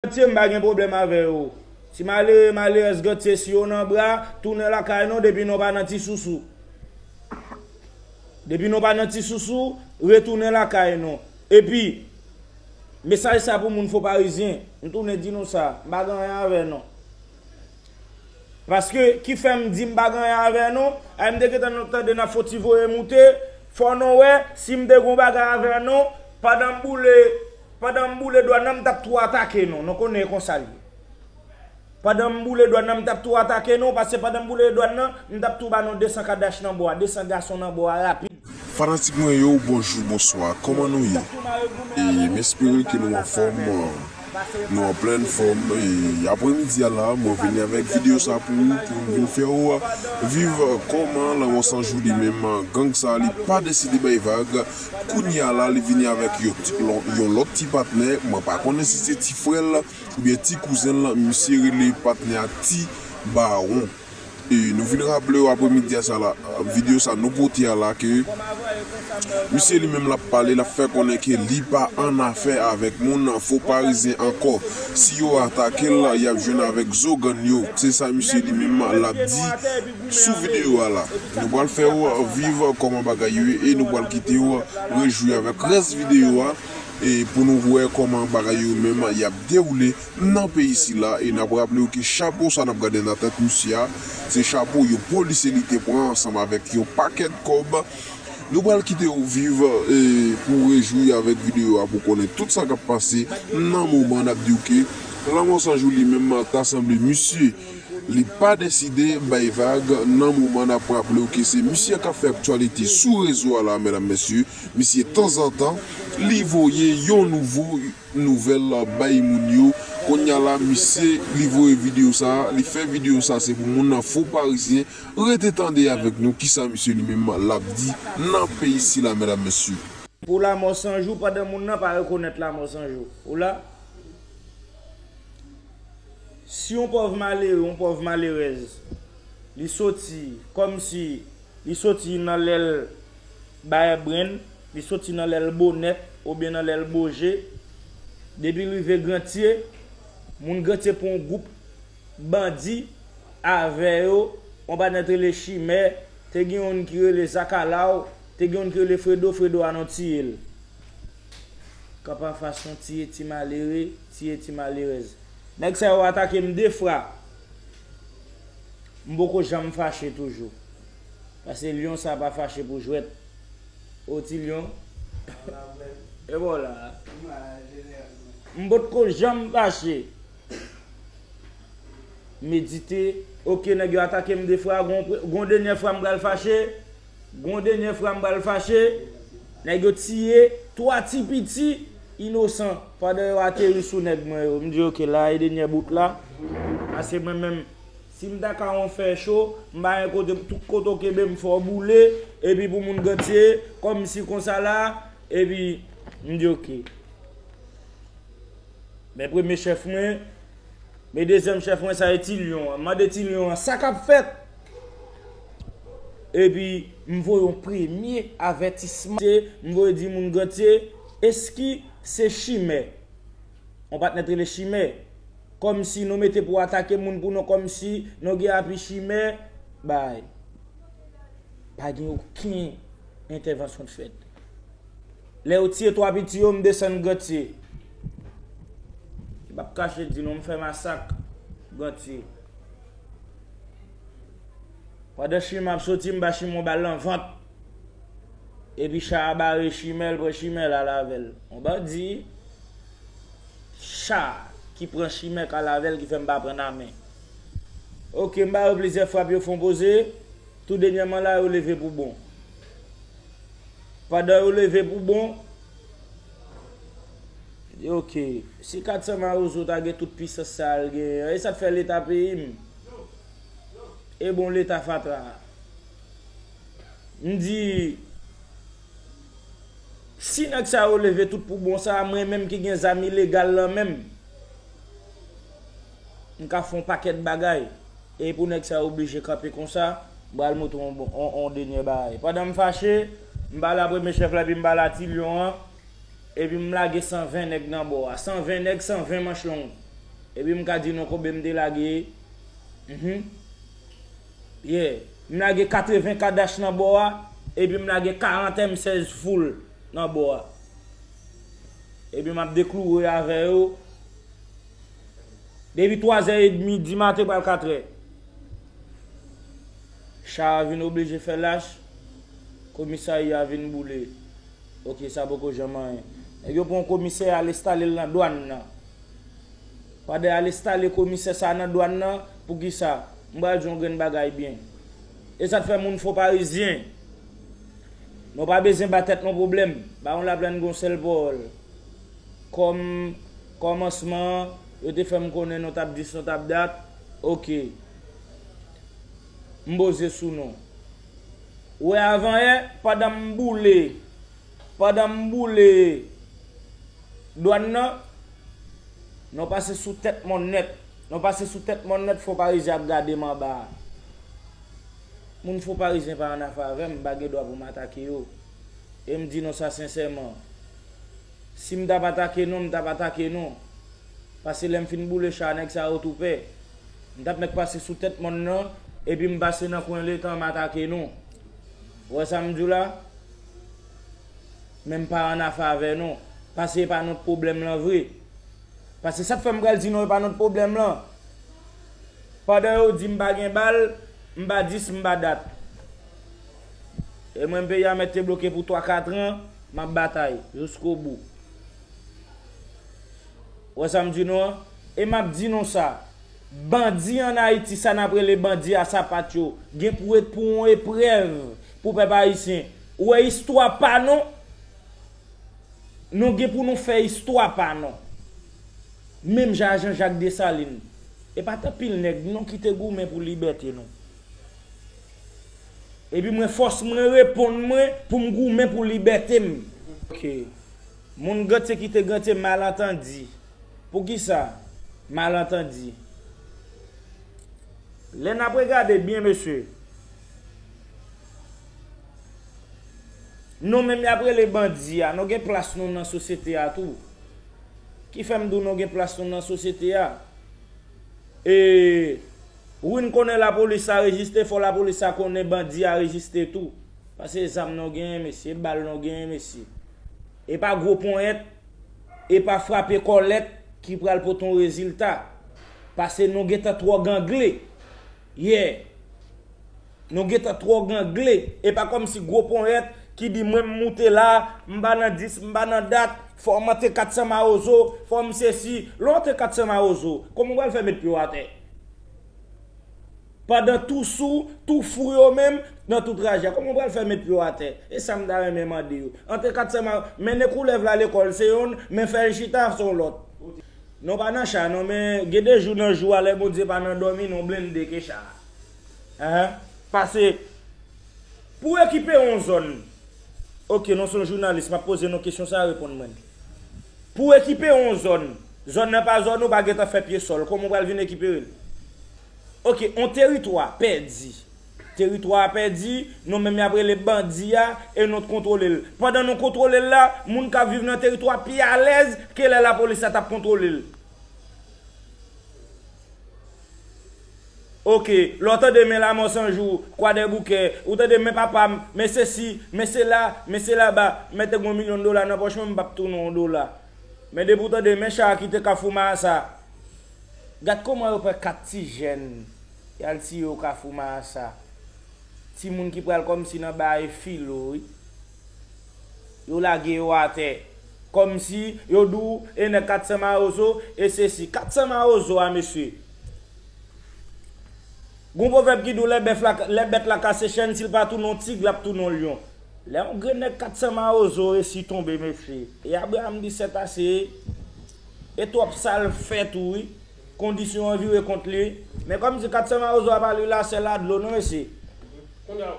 Gantye m pa gen pwoblèm avè yo. Ti malere malerèz Gantye si yo nan bra, tounen lakay nou depi nou pa nan ti sousou. Depi nou pa nan ti sousou, retounen lakay nou. Epi, mesaj sa pou moun Fonparizyen, m tounen di nou sa, m pa gen anyen avè nou. Paske, ki fè m di m pa gen anyen avè nou, ay m te gentan nan tande nan fon ti voye moute, fò nou wè, si m te gen yon bagay avè nou, pandan m boule Pandan m boule dwa nan m tap tou atake nou, nou konnen e konsa l ye. Pandan m boule dwa nan m tap tou atake nou, pase pandan m boule dwa nan m tap tou ba nou 200 kadach nan bwa, 200 gason nan bwa rapid. Fanatik mwen yo bonjou bonswa kòman nou ye e m espere ke nou anfòm nou an plèn fòm e aprè midi a la mwen vini avèk video sa pou ou pou m vin fè ou viv kòman lanmò sanjou li menm gang sa li pa deside bay vag Kounya la li vini avèk yon lòt ti patnè, mwen pa konnen si se ti frè l oubyen ti kouzen l, misye rele patnè a ti bawon. E nou vin raple yo apremidi a sa la, videyo sa nou pote a la ke misye li menm l ap pale, l ap fè konnen ke li pa annafè avèk moun fo parizyen ankò, si yo atake l y ap jwenn avèk zo gann yo, se sa misye li menm l ap di Sou videyo a la, nou pral fè ou viv kòman bagay yo ye e nou pral kite ou rejwi avèk rès videyo a pou nou wè kòman bagay yo menm yap dewoule nan peyi sila e nap raple ou ke chapo sa nap gade nan tèt misye a se chapo yon polisye li te pran ansanm avèk yon pakèt kòb nou pral kite ou viv pou ou rejwi avèk videyo a pou ou konnen tout sa kap pase nan moman nap di ou ke lanmò sanjou li menm ta sanble misye. Li pa deside bay vag nan moman nap raplew ke se misye kap fè aktyalite sou rezo a la medam mesye, misye tanzantan li voye yon nouvo nouvèl bay moun yo konnya la misye li voye video sa li fè video sa se pou moun nan fo parizyen rete tande avèk nou kisa misye li menm lap di nan peyi sila medam mesye. Pou lamò sanjou pandan moun nan pa rekonèt lamò sanjou ou la. Si yon pòv malere, yon pòv malerèz, li soti kòmsi li soti nan lè l bayè brenn, li soti nan lè l bo nèt oubyen nan lè l bo je, depi l rive Grantye, moun Grantye pran yon gwoup bandi avè yo, yon patnè te rele Chimè, te gen youn ki rele Zakalaw, te gen youn ki rele Fredo, Fredo a nou tiye l. Kanpe anfas yon tiye ti malere, tiye ti malerèz. Nèg sa yo atake m de fra. M poko janm fache toujou. Pase lyon sa pa fache pou jwèt. O ti lyon. E ba w la a. M potko janm fache. Medite, Ok nèg yo atake m de fra, gon denyè fra m pral fache? Gon denyè fra m pral fache, nèg yo tiye 3 ti piti inosan pandan yo ateri sou nèg mwen yo, m di ok la e denyè bout la, pase mwen menm si m ta ka yon fè cho m pa gen kote tout kote w kenbe m fè w boule epi pou moun gantye kòm si konsa la epi m di ok men premye chèf mwen. Men dezyèm chèf mwen sa e ti lyon an. Mande ti lyon an sa kap fèt. Epi m voye yon premye avètisman. M voye di moun gantye eski se chimè. Yon patnè t rele chimè. Kòmsi nou mete pou atake moun pou nou kòmsi nou gen api chimè. Bay. Pa gen oken entèvansyon k fèt. Lè yo tiye 3 piti yo m desann Gantye. M pap kache di nou m fè masak Gantye. Pandan chimè ap soti m ba chimè yon bal nan vant. Epi cha a bare chimè l pran chimè l al avè l. Yon bandi cha ki pran chimè k al avè l ki fè m pa pran nan men. Ok m ba yo plizyè frap yo fon poze, tou denyèman la yo leve pou bon. Pandan yo leve pou bon, di ok, si 400 mawozo ta gen tout pisans sa al genyen an, e sa t fè leta peyi m? E bon leta fatra a? M di, si nèg sa yo leve tout pou bon sa, mwen menm ki gen zam ilegal lan menm? M ka fon pakèt bagay. E pou nèg sa yo oblije kanpe konsa, m pral montre w on denyè bagay. Pandan m fache, m pale a premye chèf la epi m pale a ti lyon an, epi m lage 120 nèg nan bò a. 120 nèg, 120 manch long. Epi m ka di nou konbe m te lage, mhn, ye. M lage 80 kadach nan bò a, epi m lage 40 M 16 foul nan bò a. Epi m ap deklouwe avè yo. Depi 3 zè edmi di maten pral 4 è. Cha a vin oblije fè lach, komisaria a vin boule. Ok sa poko janm anyen. Nèg yo pran komisè al estale l nan dwann nan. Pandan y al estale komisè sa a nan dwann nan, poukisa? M pral di w yon grenn bagay byen. E sa k fè moun Fonparizyen, nou pa bezyen ba tèt nou pwoblèm. Bawon Laplàn gen yon sèl powòl, kòm. Kòmansman an, yo te fè m konnen nou t ap dis nou t ap dat. Oke. M poze sou nou. Ou wè avanyè, pandan m boule, pandan m boule dwàn nan, nou pase sou tèt mòn nèt. Nou pase sou tèt mòn nèt, Fonparizyen ap gade m anba a. Moun Fonparizyen pa annafè avè m, m pa gen dwa pou m atake yo. E m di nou sa sensèman, Sim tap atake nou m tap atake nou pase lèm fin boule cha nèg sa yo tou pè m tap mèt pase sou tèt mòn nan epi m pase nan kwen letan m atake nou ou wè sam diw la menm pa an afe avè nou pase epa nou t pwoblèm lan vre pase sak fè m pral di nou epa nou t pwoblèm lan pandan yo di m pa gen bal m pa dis m pa dat. E mwen peyi a mèt te bloke pou 3 4 an map batay jousko bou ou wè sam di nou an e map di nou sa bandi an ayiti sa nap rele bandi a sapat yo gen pou ret pou yon eprèv pou pèp ayisyen ou wè istwa pa nou nou gen pou nou fè istwa pa nou menm jan a jan jak desalin e pat anpil nèg non kite goumen pou libète nou. Epi mwen fòs mwen reponn mwen pou m goumen pou libète m. Ok. Moun gantye kite gantye malantandi. Poukisa? Malantandi. Lè n ap regade byen mesye. Nou menm y ap rele bandi a, nou gen plas nou nan sosyete a tou. Ki fè m di w nou gen plas nou nan sosyete a? E. Wi n konnen lapolis sa rejiste fò lapolis sa konnen bandi a rejiste tou pase zam nou genyen mesye e bal nou genyen mesye e pa gwo ponyèt e pa frape kòlèt ki pral pote yon rezilta pase nou gentan twò gangle yeah. Nou gentan twò gangle, e pa kòmsi gwo ponyèt ki di mwen m moute la, m pa nan dis, m pa nan dat, fò w mante 400 mawozo, fò m sesi, lè w antre 400 mawozo, kòman w pral fè met pye w atè? Pandan tou sou, tou fou yo menm, nan tou trajè a, kòman w pral fè met pye w atè? E sa m ta renmen mande yo. Antre 400 ma, mennen koulèv la lekòl se yonn, men fè l chita se yon lòt. Non pa nan cha non men gen de jou nan jou a lè Bondye pa nan dòmi non blende ke cha. Ahh pase Pou ekipe yon zòn Ok non son jounalis map poze nou kesyon sa reponn mwen Pou ekipe yon zòn Zòn nan pa zòn ou pa gentan fè pye sòl kòman ou pral vin ekiperel Ok yon teritwa pèdi Teritwa a pèdi non menm yap rele bandi a e nou t kontwolel pandan nou kontwolel la moun kap viv nan teritwa pi alèz ke lè lapolis la tap kontwolel. Ok, lè w tande men Lamò San Jou, Kwadèboukè, ou tande men papa m, men sesi, men sela, men selaba, men te gen yon milyon dola nan pòch mwen m pap tounen yon dola. Men depi w tande men cha a ki te Kafou Maasa, gad kouman yo pran 4 ti jèn y al tiye yo Kafou Maasa. Timoun ki pral kòmsi nan bare filo wi. Yo lage yo atè. Kòmsi, yo di w, e nèg 400 mawozo, e sesi. 400 mawozo a, mesye! Gon pwovèb ki di w lè bèf la, lè bèt la kase chenn, si l pa tounen w tig, l ap tounen w lyon. Lè yon grenn nèg 400 mawozo resi tonbe, mesye, e Abraram di sètase, e twòp sa l fè tou wi. Kondisyon an vire kont li. Men kòm si Katsan Mawozo a pa li la sè la dlo non mesye. Kounya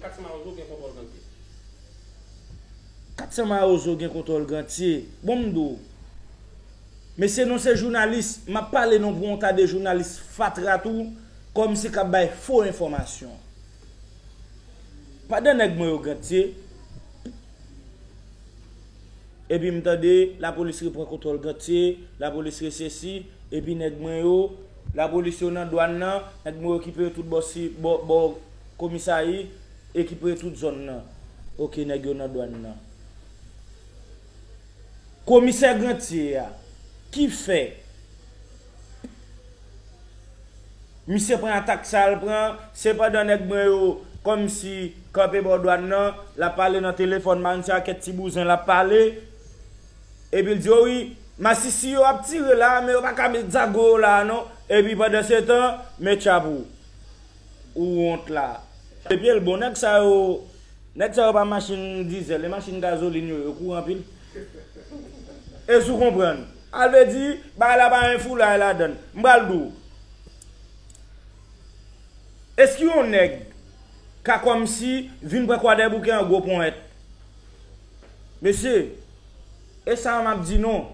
Katsan Mawozo gen kontwòl Gantye. Katsan Mawozo gen kontwòl Gantye. Bon m di w. Mesye non se jounalis m ap pale non pou yon ta de jounalis fatra tou kòm si k ap bay fo enfòmasyon. Padan nèg mwen yo Gantye. Epi m tande, lapolis repran kontwòl Gantye, lapolis resesi, epi nèg mwen yo, lapolis yo nan dwann nan, nèg mwen yo ki prete tout bò si, bò, bò komisayi, e ki prete tout zòn nan. Ok, nèg yo nan dwann nan. Komisè Gantye a, ki fè. Misye pran atak sa l pran, sepandan nèg mwen yo kòmsi kanpe bò dwàn nan, l ap pale nan telefòn, marenn se ak et ti bouzen l ap pale, epi l di o wi, masisi yo ap tire la a men yo pa ka met zago yo la a non, epi pandansetan, men tchap ou, ou wont la a. Epi l bon nèg sa yo, nèg sa yo pa machin dizèl, e machin gazolin yo, yo kou anpil. Èske ou konprann? A vle di, bagay la pa gen foulay ladan l. M pral di w. Èske yon nèg ka kòmsi vin pran Kwadèboukè an gwo ponyèt? Mesye, e sa a m ap di nou.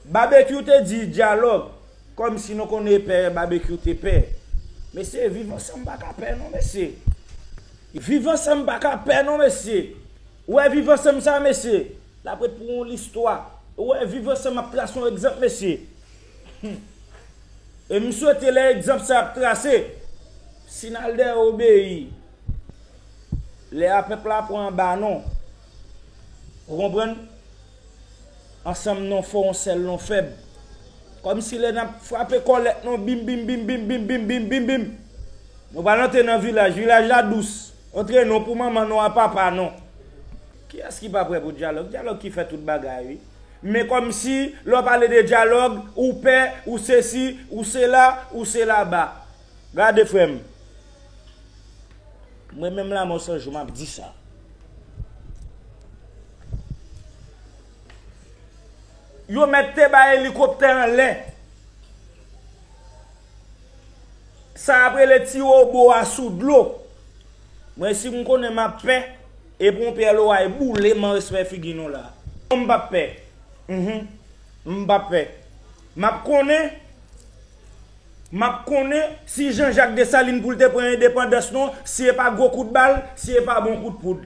Babekyou te di dyalòg, kòmsi nou konnen e pè Babekyou te pè. Mesye, viv ansanm pa ka pè non mesye. Viv ansanm pa ka pè non mesye. Ou wè viv ansanm sa a mesye? Lap ret pou yon listwa. Ou wè viv ansanm ap trase yon egzanp mesye. Humm. E m swete lè egzanp sa ap trase, Sinalde obeyi. Lè a pèp la pran anba non. Ou konprann? Ansanm non fò yon sèl non fèb. Kòm si lè nap frape kòlèt non bim bim bim bim bim bim bim bim bim. Nou pral antre nan vilaj, vilaj la dous. Antre non pou manman non a papa non. Kiyès ki pa prè pou dyalòg? Dyalòg ki fè tout bagay wi. Men kòmsi lè w pale de dyalòg, ou pè, ou sesi, ou sela, ou selaba. Gade frè m. Mwen menm Lamò 100 jou m ap di sa. Yo mèt te bay elikoptè anlè. Sa y ap rele ti wobo a sou dlo. Mwen si m konnen m ap pè. Epou yon pyè loray boule man respè figi nou la. Non m pap pè Humm m pap pè Map konnen Map konnen si Jean Jacques Dessalines poul te pran endepandans non si epa gwo kout bal si epa bon kout poud.